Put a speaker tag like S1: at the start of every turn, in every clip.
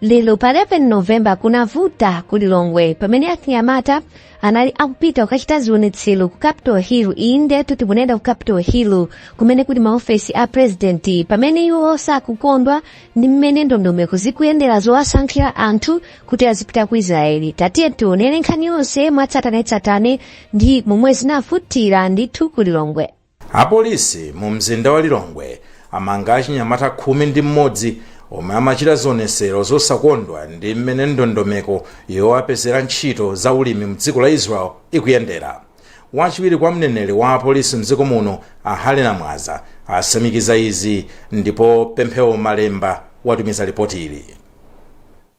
S1: lero pa 11 novemba kunavuta ku lilongwe pamene achinyamata anali akupita kukachita zionetsero ku capital hill indetu timanena ku capital hill kumene kuli maofesi a purezidenti pamene iwo sakukondwa ndi mmene ndondomeko zikuyendera zowasankhira anthu kuti azipita ku israeli tatiye tionere nkhani yonse mwatsatanetsatane ndi momwe zinavutira ndithu ku lilongwe
S2: Apolisi mu mzinda wa Lilongwe amanga achinyamata khumi ndi m'modzi omwe amachita zionesero zosakondwa ndi m'mene ndondomeko yowapezera ntchito za ulimi mdziko la Israel ikuyendera. Wachiwiri kwa mneneri wa apolisi mdziko muno a Harry Namwaza asimikiza izi ndipo Pemphero Malemba watumiza lipotili.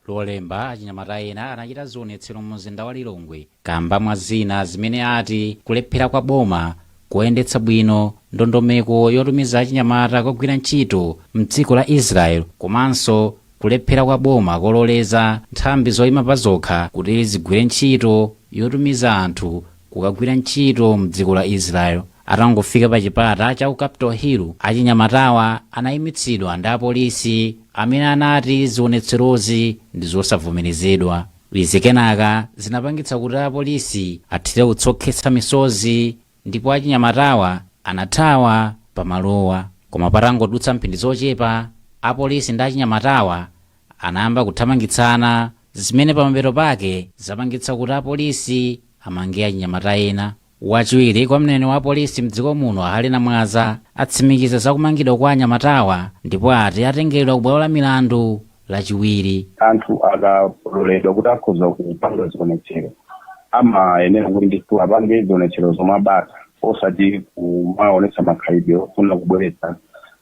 S2: Lolemba,
S3: achinyamata ena anachita zionetsero mu mzinda wa Lilongwe Kamba mwa zina zimene ati kulephera kwa boma koyendetsa bwino ndondomeko yotumiza achinyamata kukagwira ntchito mdziko la Israel komanso kulephera kwa boma kololeza nthambi zoyima pazokha kuti zigwire ntchito yotumiza anthu kukagwira ntchito mdziko la Israel. Atangofika pa chipata cha ku Capital Hill, achinyamatawa anayimitsidwa ndi apolisi amene anati zionetserozi ndizosavomerezedwa. Izi kenaka zinapangitsa kuti apolisi athire utsi okhetsa misozi ndipo achinyamatawa anathawa pa malowa. Koma patangodutsa mphindi zochepa, apolisi ndi achinyamatawa anayamba kuthamangitsana zimene pamapeto pake zapangitsa kuti apolisi amange achinyamata ena. Wachiwiri kwa mneneri wa apolisi mdziko muno a Harry Namwaza atsimikiza za kumangidwa kwa anyamatawa ndipo ati atengeredwa ku bwalo la milandu lachiwiri. anthu
S4: akaloledwa kuti akhoza kupanga zionetsero amayenera kuti ndithu apange zionetsero zomwe zabata osati kumaonetsa makhalidwe ofuna kubweretsa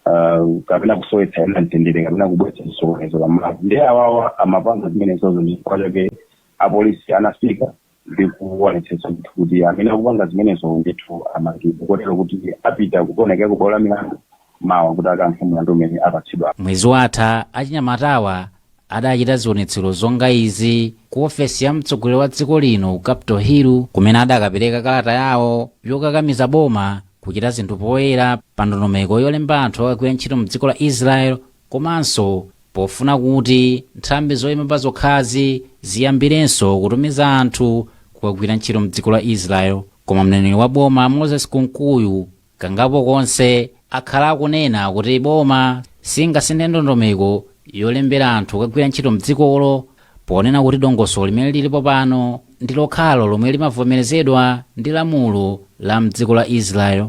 S4: ah, kapena kusowetsa ena mtendere kapena kubweretsa chisokonezo pamalopo nde awawa amapanga zimenezozo chifukwa chake apolisi anafika ndi kuonetsetsa ndithu kuti amene akupanga zimenezo ndithu amangidwe kotero kuti apita kukaonekera ku bwalo la milandu mawa kuti akayankhe mlandu umene apatsidwa. Mwezi watha
S3: achinyamatawa adachita zionetsero zonga izi ku ofesi ya mtsogoleri wa dziko lino ku Capital Hill kumene adakapereka kalata yawo yokakamiza boma kuchita zinthu poyera pa ndondomeko yolemba anthu okagwira ntchito mdziko la Israel Komanso pofuna kuti nthambi zoima pazokhazi ziyambirenso kutumiza anthu kukagwira ntchito m'dziko la Israel. Koma mneneri wa boma Moses Kunkuyu kangapo konse akhala akunena kuti boma singasinthe ndondomeko yolembera anthu kukagwira ntchito m'dzikolo ponena kuti dongosolo limene lilipo pano ndi lokhalo lomwe limavomerezedwa ndi lamulo la m'dziko la Israel.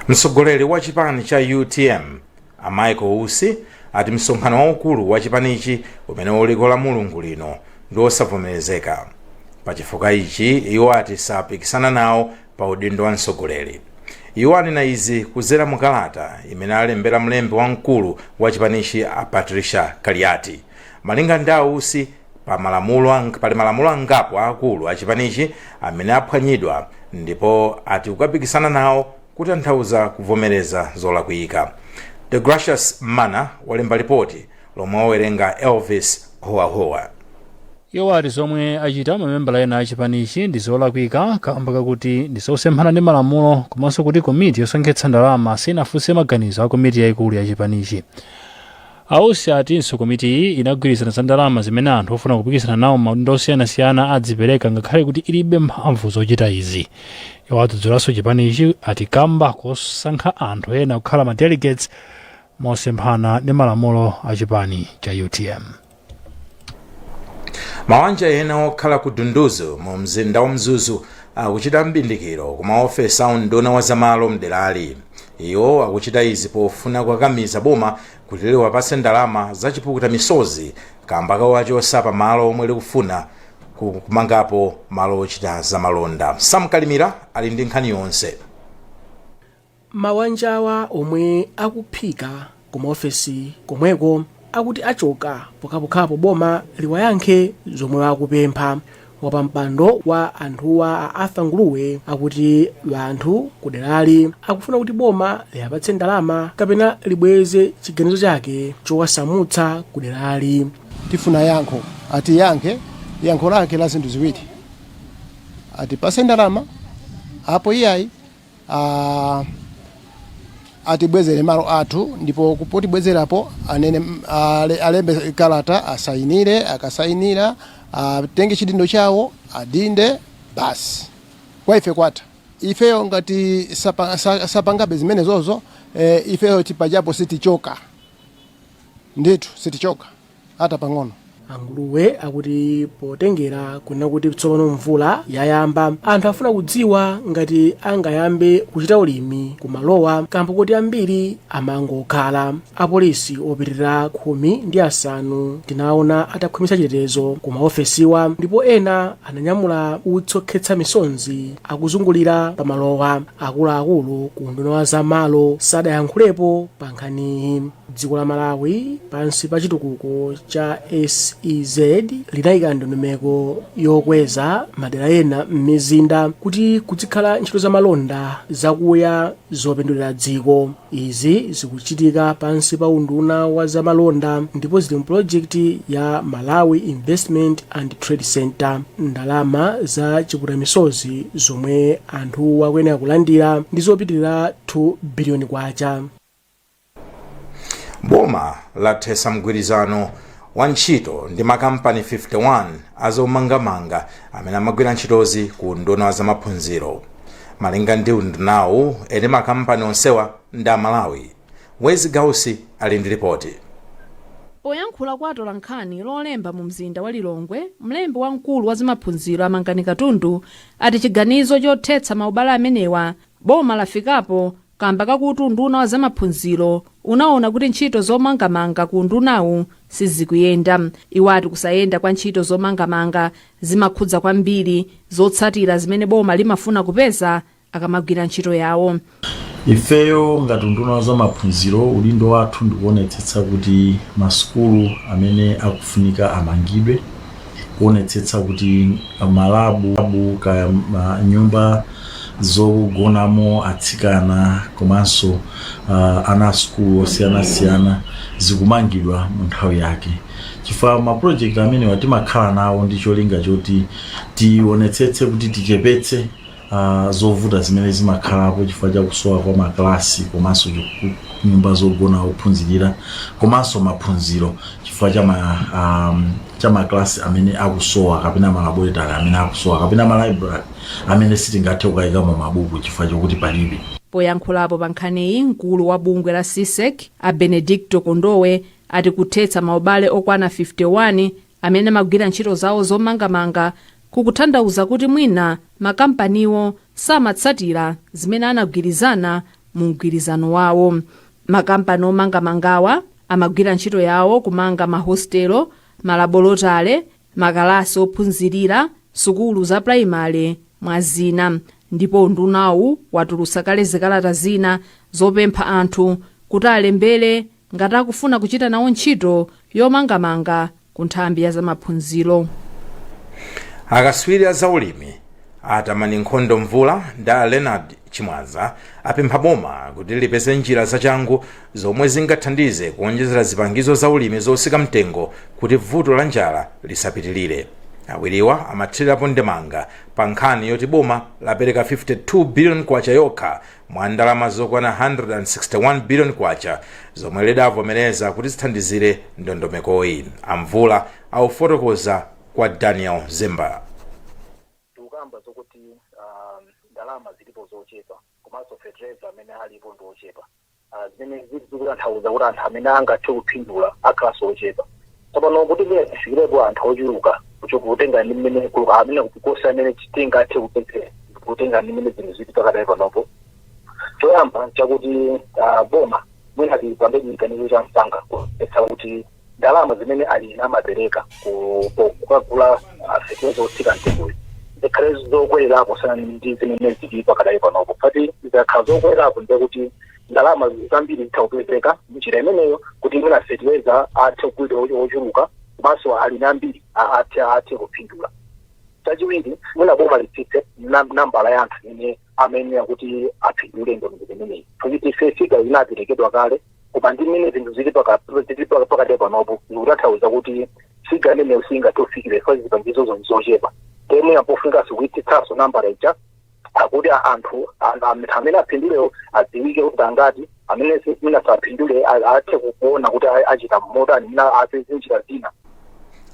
S2: mtsogoleri wa chipani cha utm a michael usi ati msonkhano waukulu wa chipanichi umene uliko la mulungu lino ndi osavomerezeka pachifukwa ichi iwo ati sapikisana nawo pa udindo wa mtsogoleri iwo anena izi kudzera mu kalata imene alembera mlembi wamkulu wa chipanichi a patricia kaliati malinga ndi ausi pali malamulo angapo aakulu a chipanichi amene aphwanyidwa ndipo ati kukapikisana nawo kutanthauza kuvomereza zolakwika the gracious mana walemba ripoti lomwe wawerenga elvis howahowa iwo
S5: ati zomwe achita mamembala ena a chipanichi ndi zolakwika kamba kakuti ndi zosemphana ndi malamulo komanso kuti komiti yosonkhetsa ndalama sinafunse maganizo a komiti yayikulu ya chipanichi A Usi atinso komitiyi inagwirizana za ndalama zimene anthu ofuna kupikisana nawo m'maudindo osiyanasiyana adzipereka ngakhale kuti ilibe mphamvu zochita izi. Iwo adzudzulanso chipanichi ati kamba kosankha anthu ena kukhala ma delegates mosemphana ndi malamulo a chipani cha utm.
S2: Mawanja ena okhala ku Dunduzu mu mzinda wa Mzuzu akuchita m'bindikiro ku maofesi a unduna wa zamalo mderali. Iwo akuchita izi pofuna kukakamiza boma kuti liwapatse ndalama za chipukuta misozi kamba kowachotsa pa malo omwe likufuna kukumangapo malo ochita za malonda. Sam Kalimira ali ndi nkhani yonse. Mawanjawa
S6: omwe akuphika ku maofesi komweko akuti achoka pokhapokhapo boma liwayankhe zomwe akupempha wapampando wa anthuwa a arthur nguluwe akuti anthu kuderali akufuna kuti boma liwapatse ndalama kapena libweze chiganizo chake chowasamutsa kuderali tifuna
S7: yankho atiyankhe yankho lake la zinthu ziwiri atipase ndalama apo iyayi atibwezere malo athu ndipo potibwezerapo anene alembe kalata asayinire akasayinira atenge chidindo chawo adinde basi kwa ife kwatha ifeyo ngati sapangabe zimenezozo ifeyo tili pajapo sitichoka ndithu sitichoka ata pang'ono
S6: anguluwe akuti potengera kunena kuti tsopano mvula yayamba anthu afuna kudziwa ngati angayambe kuchita ulimi kumalowa kamba koti ambiri amangokhala apolisi opitirira khumi ndi asanu tinaona atakhwimitsa chitetezo ku maofesiwa ndipo ena ananyamula utsokhetsa misonzi akuzungulira pamalowa akuluakulu ku unduna wa zamalo sadayankhulepo pa nkhaniyi Dziko la Malawi pansi pa chitukuko cha SEZ linayika ndondomeko yokweza madera ena m'mizinda kuti kudzikhala ntchito za malonda zakuya zopindulira dziko. Izi zikuchitika pansi pa unduna wa za malonda ndipo zili mu pulojekiti ya Malawi Investment and Trade Centre. Ndalama za chiputamisozi zomwe anthu akuyenera kulandira ndi zopitirira 2 biliyoni kwacha.
S2: boma lathetsa mgwirizano wa ntchito ndi makampani 51 azomangamanga amene amagwira ntchitozi ku unduna wa zamaphunziro malinga ndi undunawu eni makampani onsewa ndi amalawi Wezzie Gausi ali ndi lipoti
S8: poyankhula kwa atolankhani lolemba mu mzinda wa lilongwe mlembi wamkulu wa zamaphunziro a Mangani Katundu ati chiganizo chothetsa maubale amenewa boma lafikapo kamba kakuti unduna wa zamaphunziro unaona kuti ntchito zomangamanga ku undunawu sizikuyenda. Iwo ati kusayenda kwa ntchito zomangamanga zimakhudza kwambiri zotsatira zimene boma limafuna kupeza akamagwira ntchito yawo. Ifeyo
S9: ngati unduna wa zamaphunziro udindo wathu ndikuonetsetsa kuti masukulu amene akufunika amangidwe kuonetsetsa kuti ma lab kaya nyumba zogonamo atsikana komanso uh, ana asukulu osiyanasiyana zikumangidwa mu nthawi yake chifukwa ma project amenewa timakhala nawo ndi cholinga choti tionetsetse kuti tichepetse a zovuta zimene zimakhalapo chifukwa cha kusowa kwa makalasi komanso chiku- nyumba zogona ophunzirira komanso maphunziro chifukwa cha ma, um, cha makalasi amene akusowa kapena malaboretari amene akusowa kapena malaibrari amene sitingathe kukayikamo mabuku chifukwa chokuti palibe poyankhulapo
S8: pa nkhaniyi mkulu wa bungwe la CSEC a benedicto kondowe ati kuthetsa maubale okwana 51 amene amagwira ntchito zawo zomangamanga kukutanthauza kuti mwina makampaniwo samatsatira zimene anagwirizana mu mgwirizano wawo. Makampani omangamangawa amagwira ntchito yawo kumanga mahostelo, malabolotale, makalasi ophunzirira, sukulu za pulayimale mwa zina ndipo undunawu watulutsa kale zikalata zina zopempha anthu kuti alembere ngati akufuna kuchita nawo ntchito yomangamanga ku nthambi ya
S2: zamaphunziro. Akatswiri a zaulimi a Tamani Nkhono Mvula ndi a Leonard Chimwaza apempha boma kuti lipeze njira zachangu zomwe zingathandize kuonjezera zipangizo zaulimi zotsika mtengo kuti vuto la njala lisapitirire. Awiriwa amathirirapo ndemanga pa nkhani yoti boma lapereka 52 biliyoni kwacha yokha mwa ndalama zokwana 161 billion kwacha zomwe lidavomereza kuti zithandizire ndondomekoyi amvula akufotokozera kwa daniel zimba
S10: tikukamba zokuti um, ndalama zilipo zochepa komanso fetereza amene alipo ndi ochepa Ah, zimene zili zikutanthauza kuti anthu amene angathe kupindula akhalanso ochepa Tsopano, kuti mwina tifikirepo anthu ochuluka kucho kutenga ndi mmene ku- amene kuposa amene tingathe kupezera kutenga ndi mmene zinthu zili pakadali panopo choyamba chakuti ah, boma mwina lipange chiganizo cha msanga kuonetsa kuti ndalama zimene alimi amapereka ku- ku- kukagula ah, fetereza otsika mtengoyo zikhale zokwelerapo kusiyana ndi zimene zili pakadali panopo poti zikakhala zokwelerapo ndekuti ndalama zambiri zitha kupezeka mnjira imeneyo kuti mwina fertilizer athe kugulidwa ocho- ochuluka komanso alimi ambiri a- athe athe kupindula chachiwiri mwina boma litsitse nam- nambala ya anthu imene amayenera kuti apindule ndondomeko imeneyi kuti figa inaperekedwa kale koma ndi mmene zinthu zili paka- zili paka- pakadali panopo zikutanthauza kuti figa imeneyo singathe kufikiridwa zipangizo zonse zochepa ndiye mpofunikanso kuitsitsanso nambala ija kuti a- anthu a- a- anthu amene apindulewo adziwike kuti ndi angati amene si- mwina sapindule a- athe kuona kuti a- achita motani mwina apeze njira zina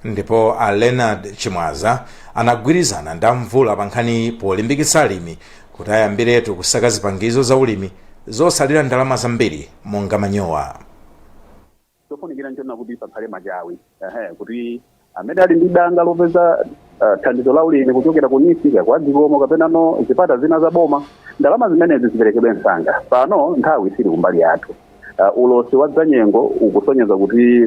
S10: ndipo
S2: a leonard chimwaza anagwirizana ndi a mvula pa nkhani polimbikitsa alimi kuti ayambiretu kusaka zipangizo za ulimi zosalira ndalama zambiri monga manyowa
S4: chofunikira nchonena kuti pakhale machawi ehe kuti amene ali ndi danga lopeza ah, thandizo la ulimi kuchokera ku NEEF kwa dzikomo kapenano zipata zina za boma ndalama zimenezi ziperekedwe msanga pano nthawi sili kumbali yathu Ah, ulosi wa zanyengo ukusonyeza kuti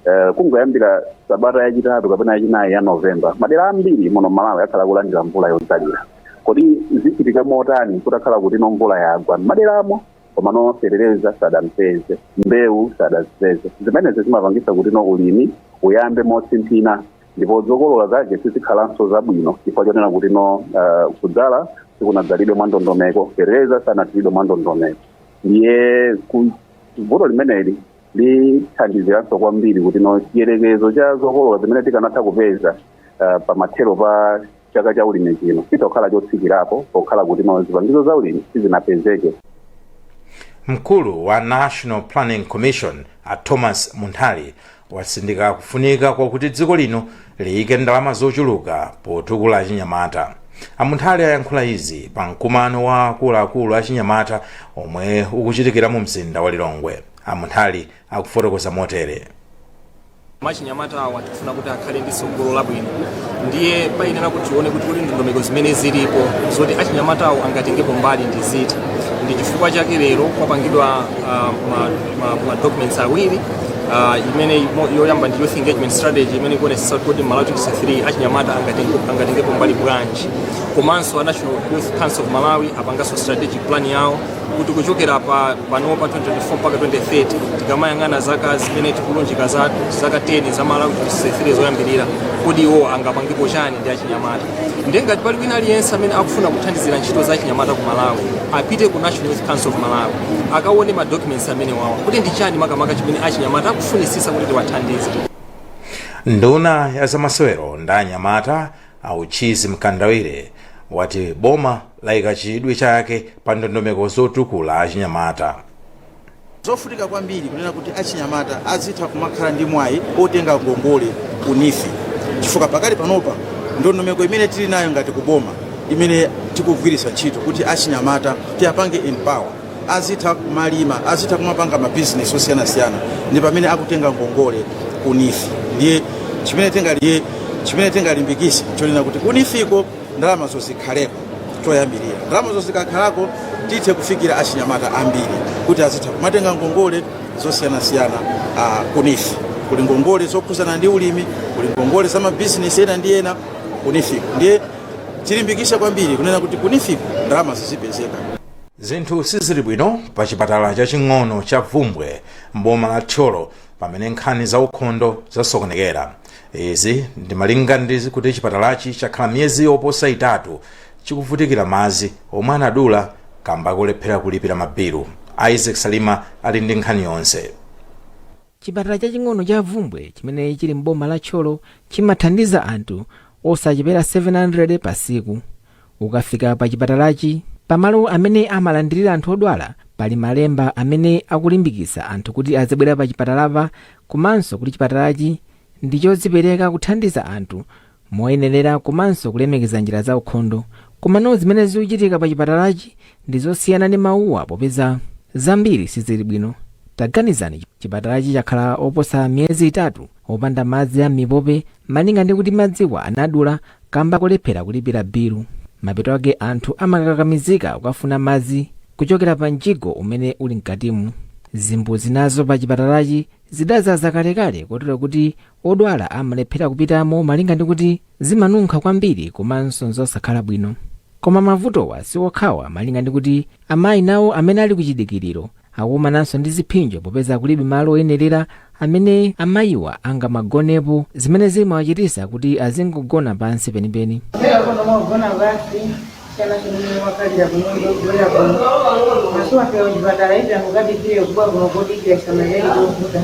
S4: eh, kungoyambira sabata yachitatu kapena yachinayi ya novemba madera ambiri muno malawi akhala akulandira mvula yodzalira kodi zichitika motani kutakhala kuti no mvula yagwa m'maderamo komano fetereza sadampeze mbewu sadazipeze zimenezi zimapangisa kuti no ulimi uyambe motsimphina ndipo zokolola zake sizikhalanso zabwino chifukwa chonena kuti no uh, kudzala sikunadzalidwe mwa ndondomeko fetereza sanathilidwe mwa ndondomeko ndiye ku- vuto limeneli lithandiziranso kwambiri kuti no chiyerekezo cha zokolola zimene tikanatha kupeza uh, pamathero pa chaka cha ulimi chino chitha kukhala chotsikirapo pokhala kuti ma zipangizo za ulimi sizinapezeke
S2: mkulu wa national planning commission a thomas munthali watsindika kufunika kwakuti dziko lino liyike ndalama zochuluka potukula achinyamata amunthali ayankhula izi pa mkumano wa akuluakulu achinyamata omwe ukuchitikira mu mzinda wa lilongwe amunthali akufotokoza
S11: motere. Achinyamata awa tikufuna kuti akhale ndi tsogolo labwino, ndiye payenera kuti tione kuti kodi ndondomeko zimene zilipo zoti achinyamata awo angatengepo mbali ndi ziti. Ndi chifukwa chake lero kwapangidwa ah, ma- ma- ma documents awiri ah, imene imo- yoyamba ndi youth engagement strategy imene ikuonetsetsa kuti kodi Malawi 2063 achinyamata angatenge- angatengepo mbali bwanji, komanso a National Youth Council of Malawi apanganso strategic plan yawo kuti kuchokera pa panopa 2024 mpaka 2030 tikamayang'ana zaka zimene tikulunjika za zaka 10 za malawi 2063 zoyambirira kodi iwo angapangepo chani ndi achinyamata ndiye ngati pali wina aliyense amene akufuna kuthandizira ntchito za achinyamata ku malawi apite ku national youth council of malawi akaone ma documents amenewawa kuti ndi chani makamaka chimene achinyamata akufunisisa kuti tiwathandize
S2: nduna ya zamasewero ndi anyamata a uchizi mkandawire wati boma layika chidwi chake pa ndondomeko zotukula
S12: achinyamata. Zofunika kwambiri kunena kuti achinyamata azitha kumakhala ndi mwayi otenga ngongole ku NEEF chifukwa pakali panopa ndondomeko imene tili nayo ngati kuboma imene tikugwiritsa ntchito kuti achinyamata tiwapange empower azitha kumalima azitha kumapanga mabizinesi osiyanasiyana ndi pamene akutenga ngongole ku NEEF ndiye chimene tingali chimene tingalimbikise n'chonena kuti ku NEEF-ko ndalamazo zikhaleko choyambirira ndalamazo zikakhalako tithe kufikira achinyamata ambiri kuti azitha kumatenga ngongole zosiyanasiyana uh, ku NEEF kuli ngongole zokhuzana ndi ulimi kuli ngongole za mabizinesi ena ndi ena ku NEEF-ko ndiye tilimbikisa kwambiri kunena kuti ku NEEF-ko ndalama zizipezeka
S2: zinthu sizili bwino pa chipatala chaching'ono cha vumbwe mboma la thyolo pamene nkhani za ukhondo zasokonekera izi ndi malinga ndi kuti chipatalachi chakhala miyezi yoposa itatu chikuvutikira madzi omwe anadula kamba kolephera kulipira mabilu isaac salima ali ndi nkhani yonse
S13: chipatala chaching'ono cha vumbwe chimene chili m'boma la thyolo chimathandiza anthu osachepera 700 pa tsiku Ukafika pachipatalachi, pamalo amene amalandirira anthu odwala pali malemba amene akulimbikitsa anthu kuti azibwera pachipatalapa komanso kuti chipatalachi ndi chodzipereka kuthandiza anthu moyenerera komanso kulemekeza njira zaukhondo. Komano zimene zikuchitika pachipatalachi ndi zosiyana ndi mawuwa popeza zambiri sizili bwino. Taganizani, chipatalachi chakhala oposa miyezi itatu opanda madzi a m'mipope Malinga ndi kuti madziwa anadula kamba kolephera kulipira bilu, mapeto ake anthu amakakamizika kukafuna madzi kuchokera pa mjigo umene uli mkatimu. Zimbudzi nazo pa chipatalachi zidadzaza kalekale kotero kuti odwala amalephera kupitamo malinga ndi kuti zimanunkha kwambiri komanso n'zosakhala bwino. Koma mavutowa si okhawa malinga ndi kuti amayi nawo amene ali ku chidikiriro akukumananso ndi zipsinjo popeza kulibe malo oyenerera amene amayiwa angamagonepo zimene zimawachitisa kuti azingogona pansi penipeni Lero kuno mwagona basi chana chimene wakalira kunyumba ogwera kuno maso apewa chipatala izi angukadikire kuba kuno kodikira samaleli kovuta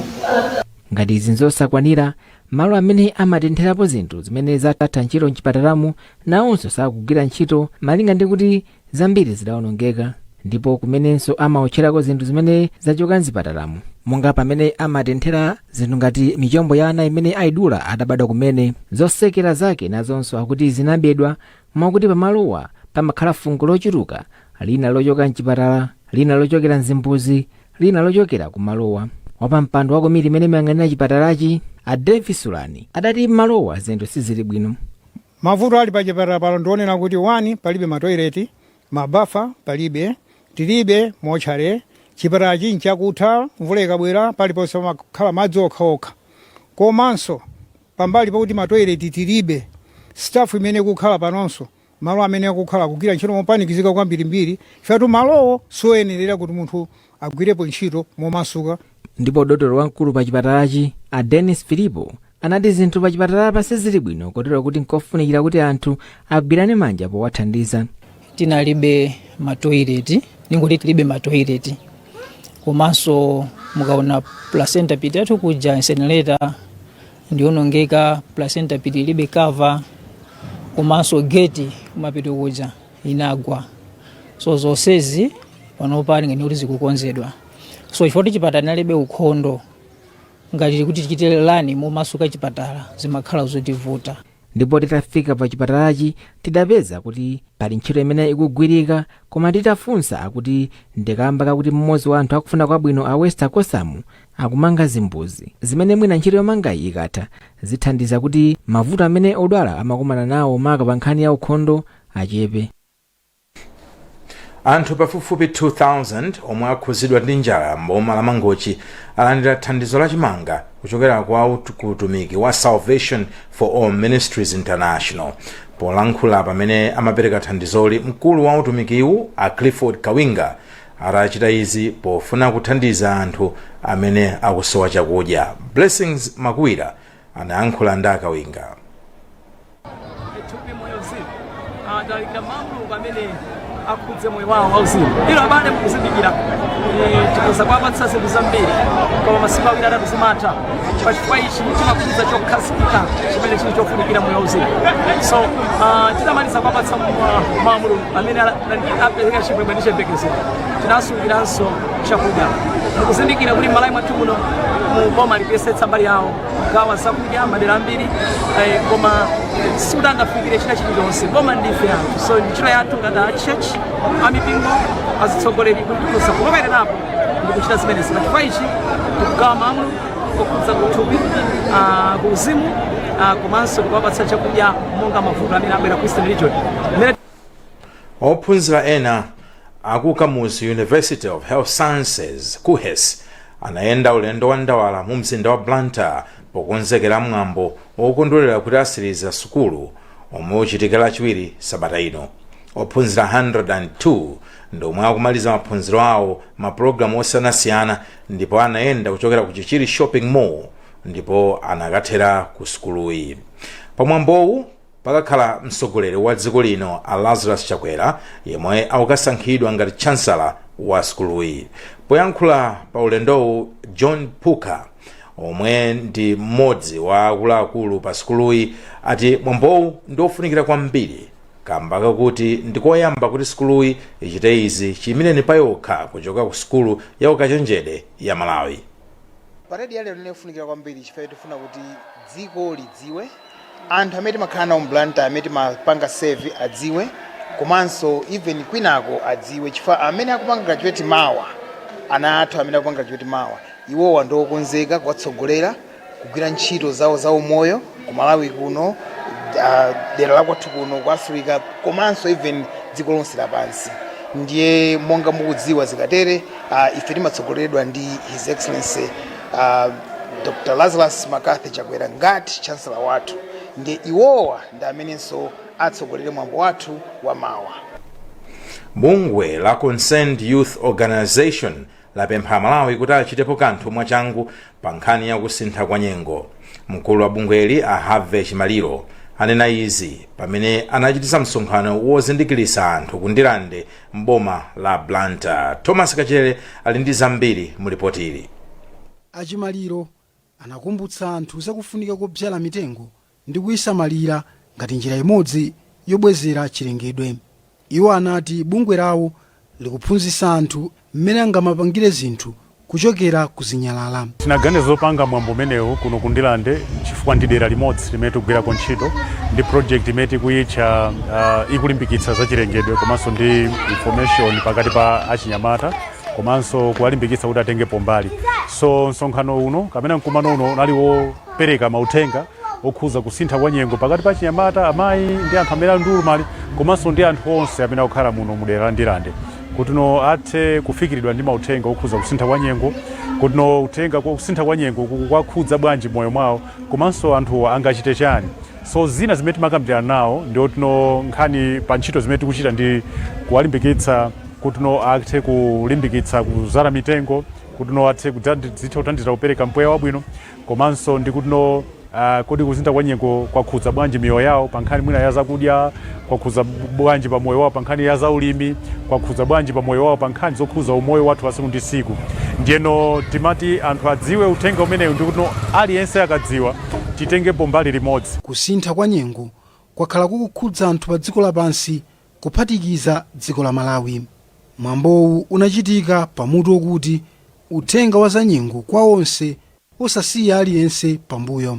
S13: ngati izi nzosakwanira malo amene amatentherapo zinthu zimene zatha ntchito mchipatalamu nawonso sakugwira ntchito malinga ndi kuti zambiri zidaonongeka ndipo kumenenso amaotcherako zinthu zimene zachoka mzipatalamo monga pamene amatenthera zinthu ngati michombo ya ana imene aidula atabadwa kumene zotsekera zake nazonso akuti zinabedwa mwakuti pamalowa pamakhala fungo lochuluka lina lochoka mchipatala lina lochokera mzimbuzi lina lochokera kumalowa wapampando wa komiti imene imayang'anira chipatalachi a Davis Sulani adati mmalowa zinthu sizili bwino Mavuto ali pa
S14: chipatala pano ndi onena kuti 1 palibe ma toilet, ma bafa palibe, tilibe motchale, chipatalachi nchakutha mvula ikabwera paliponse pamakhala madzi okha okha komanso pambali pakuti ma toilet tilibe, staff imene ikukhala panonso malo amene akukhala akugwira ntchito mopanikizika kwambirimbiri chifukwa tu malowo sioyenerera kuti munthu agwirepo ntchito momasuka. Ndipo
S13: dotolo wamkulu pa chipatalachi, a Dennis Filipo, anati zinthu pa chipatalapa sizili bwino kotero kuti nkofunikira kuti anthu agwirane manja powathandiza. tinalibe
S15: matoileti ndingoti tilibe matoileti komanso mukaona placenta pit yathu kuja incinerator ndionongeka placenta pit ilibe cover komanso geti kumapeto kuja inagwa so zonsezi panopa ngati kuti zikukonzedwa so chifukwa kuti chipatala chinalibe ukhondo ngati kuti tichite run momasuka chipatala zimakhala zotivuta ndipo titafika
S13: pa chipatalachi tidapeza kuti pali ntchito imene ikugwirika koma titafunsa akuti ndikamba kakuti mmodzi wa anthu akufuna kwabwino a Wester Kosamu akumanga zimbuzi zimene mwina ntchito yomangayi ikatha zithandiza kuti mavuto amene odwala amakumana nawo maka pa nkhani ya ukhondo
S2: achepe. Anthu pafupifupi 2,000 omwe akhuzidwa ndi njala m'boma la Mangochi alandira thandizo la chimanga kuchokera kwa ut- ku utumiki wa Salvation for All Ministries International. Polankhula pamene amapereka thandizoli, mkulu wa utumikiwu a Clifford Kawinga ati achita izi pofuna kuthandiza anthu amene akusowa chakudya. Blessings Makuwira anayankhula ndi a Kawinga thupi moyo
S16: uzimu talalikira mau a Mulungu amene akhudze moyo wawo wauzimu ilo abale mukuzindikira eh, tikhoza kwapatsa zinthu zambiri koma masiku awiri atatu zimatha pachifukwa ichi chimakhudza chokhazikika chimene chili chofunikira moyo wauzimu so ah, titamaliza kwapatsa mau a Mulungu amene ala- apereka chimwemwe ndi chiyembekezo tinasungiranso chakudya mukuzindikira kuti m'Malawi mwathu muno mu boma likuyesetsa mbali yawo kugawa zakudya madera ambiri eh, koma sikuti angafikire china chilichonse boma ndife anthu so ndi ntchito yathu ngati a church amipingo azitsogoleri kuti kulowererapo ndikuchita zimenezi pachifukwa ichi tikugawa mawu okhudza kuthupi ah, kuuzimu ah, komanso kuwapatsa chakudya monga mavuto amene abwera ku eastern region Mmene-
S2: ophunzira ena aku kamuzu university of health sciences kuhes anayenda ulendo wa ndawala mu mzinda wa blantyre pokonzekera mwambo wokondwerera kuti atsiriza sukulu omwe uchitika lachiwiri sabata ino ophunzira 102 ndi omwe akumaliza maphunziro awo mapulogalamu osiyanasiyana ndipo anayenda kuchokera ku chichiri shopping mall ndipo anakathera ku sukuluyi pamwambowu Pakakhala mtsogoleri wa dziko lino a Lazarus Chakwera yemwe akukasankhidwa ngati Chancellor wa sukuluyi. Poyankhula pa ulendowu John Phuka omwe ndi mmodzi wa akuluakulu pa sukuluyi ati mwambowu ndi ofunikira kwambiri kamba kakuti ndi koyamba kuti sukuluyi ichite izi chiyimireni payokha kuchoka ku sukulu ya ukachenjede ya Malawi.
S17: Paredi yalero ndi yakufunikira kwambiri chifukwa choti tifuna kuti dziko lidziwe, anthu amene timakhala nawo m'Blantyre amene timapanga serve adziwe komanso even kwinako adziwe chifukwa amene akupanga graduate mawa, ana athu amene akupanga graduate mawa, iwowa ndi okonzeka kutsogolera kugwira ntchito zawo zaumoyo. kumalawi kuno ah, dera lakwathu kuno ku africa komanso even dziko lonse lapansi ndiye monga mukudziwa zikatere ah, ife timatsogoleredwa ndi his excellency ah, dr lazarus mccarthy chakwera ngati chancellor wathu ndiye iwowa ndi amenenso atsogolere mwambo wathu wa mawa
S2: Bungwe la Concerned Youth Organization lapempha Amalawi kuti achitepo kanthu mwachangu pa nkhani ya kusintha kwa nyengo. Mkulu wa bungweli a Harvey Chimaliro anena izi pamene anachititsa msonkhano wozindikiritsa anthu ku Ndirande m'boma la Blantyre. Thomas Kachere ali ndi zambiri mu lipotili. A Chimaliro
S18: Anakumbutsa anthu za kufunika kobzala mitengo ndi kuisamalira ngati njira imodzi yobwezera chilengedwe. Iwo anati bungwe lawo likuphunzitsa anthu mmene angamapangire zinthu kuchokera ku zinyalala. Tinaganiza
S19: zopanga mwambo umenewu kuno ku Ndirande chifukwa ndi dera limodzi limene tikugwirako ntchito ndi project imene tikuyitcha ikulimbikitsa za chilengedwe komanso ndi information pakati pa achinyamata. komanso kuwalimbikitsa kuti atengepo mbali so msonkhano uno kapena mkumano uno unali wopereka mauthenga okhuza kusintha kwa nyengo pakati pa achinyamata amayi ndi anthu amene ali ndi ulumali komanso ndi anthu onse amene akukhala muno mu dera la ndirande kutino athe kufikiridwa ndi mauthenga okhuza kusintha kwa nyengo kutino uthenga kwa kusintha kwa nyengo kwakhudza bwanji moyo mwawo komanso anthuwa angachite chani So zina zimene timakambirana nawo ndi oti no nkhani pa ntchito zimene tikuchita ndi kuwalimbikitsa kuti no athe kulimbikitsa kuzala mitengo kuti no athe kudzandi- zitha kuthandizira kupereka mpweya wabwino komanso ndi kuti no ah, kodi kusintha kwa nyengo kwakhudza bwanji miyoyo yawo pa nkhani mwina ya zakudya kwakhudza bwanji pa moyo wawo pa nkhani ya zaulimi kwakhudza bwanji pa moyo wawo pa nkhani zokhudza umoyo wathu wa tsiku ndi tsiku ndiyeno timati anthu adziwe uthenga umenewu ndi kuti no aliyense akadziwa titengepo mbali limodzi. Kusintha kwa
S18: nyengo kwakhala kukukhudza anthu pa dziko lapansi kuphatikiza dziko la Malawi. Mwambowu unachitika pa mutu wokuti Uthenga wa za nyengo kwa onse osasiya aliyense pambuyo.